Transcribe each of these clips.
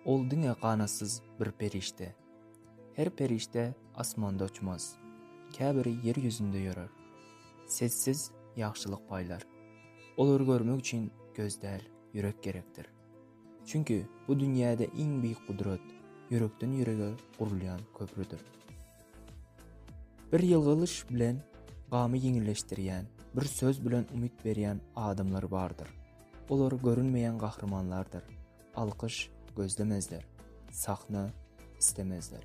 Ol diňe ganatsyz bir perişde. Her perişde asmanda uçmaz. Käbiri ýer ýüzünde ýörer. Sessiz ýagşylyk paýlar. Olary görmek üçin göz däl, ýürek gerekdir. Çünki bu dünýäde iň beýik gudrat ýürekden ýürege gurulýan köprüdir. Bir ýylgyryş bilen gamy ýeňilleşdirýän, bir söz bilen umyt berýän adamlar bardyr. Olar görünmeýän gahrymanlardyr. Alkyş gözlemezler. Sahna islemezler.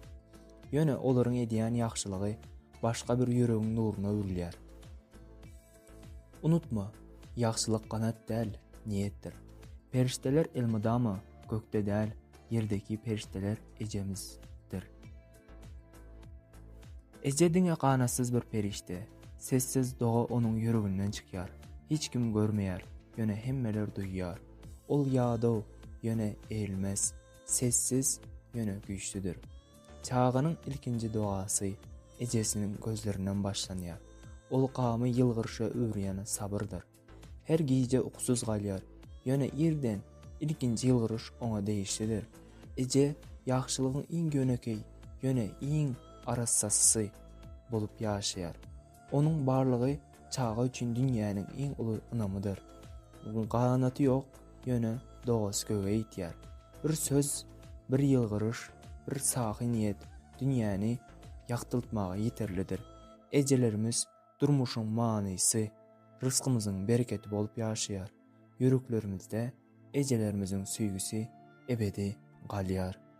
Ýöne olaryň edýän ýagşylygy başga bir ýüregiň nuruna öwrülýär. Unutma, ýagşylyk ganat däl, niýetdir. Perişdeler elmydama gökde däl, ýerdeki perişdeler ejemizdir. Eje diňe ganatsyz bir perişde. Sessiz doga onuň ýüreginden çykýar. Hiç kim görmeýär, ýöne hemmeler duýýar. Ol ýadaw, ýöne erilmez. Sessiz, ýöne güýçlüdir. Çaganyň ilkinji dogasy ejesiniň gözlerinden başlanýar. Ol gamy ýylgyryşa öwürýän sabyrdyr. Her gije ukusyz galýar. Ýöne irden ilkinji ýylgyryş oňa degişlidir. Eje ýagşylygyň iň ýönekeý, ýöne iň arassasysy bolup ýaşaýar. Onuň barlygy çaga üçin dünýäniň iň uly ynamydyr. Ganaty ýok, ýöne dogasy göge ýetýär. Bir söz, bir ýylgyryş, bir sahy niýet dünýäni ýagtyltmaga ýeterlidir. Ejelerimiz Durmuşyň manysy, rysgymyzyň bereketi bolup ýaşaýar. Ýüreklerimizde ejelerimiziň söýgüsi ebedi galýar.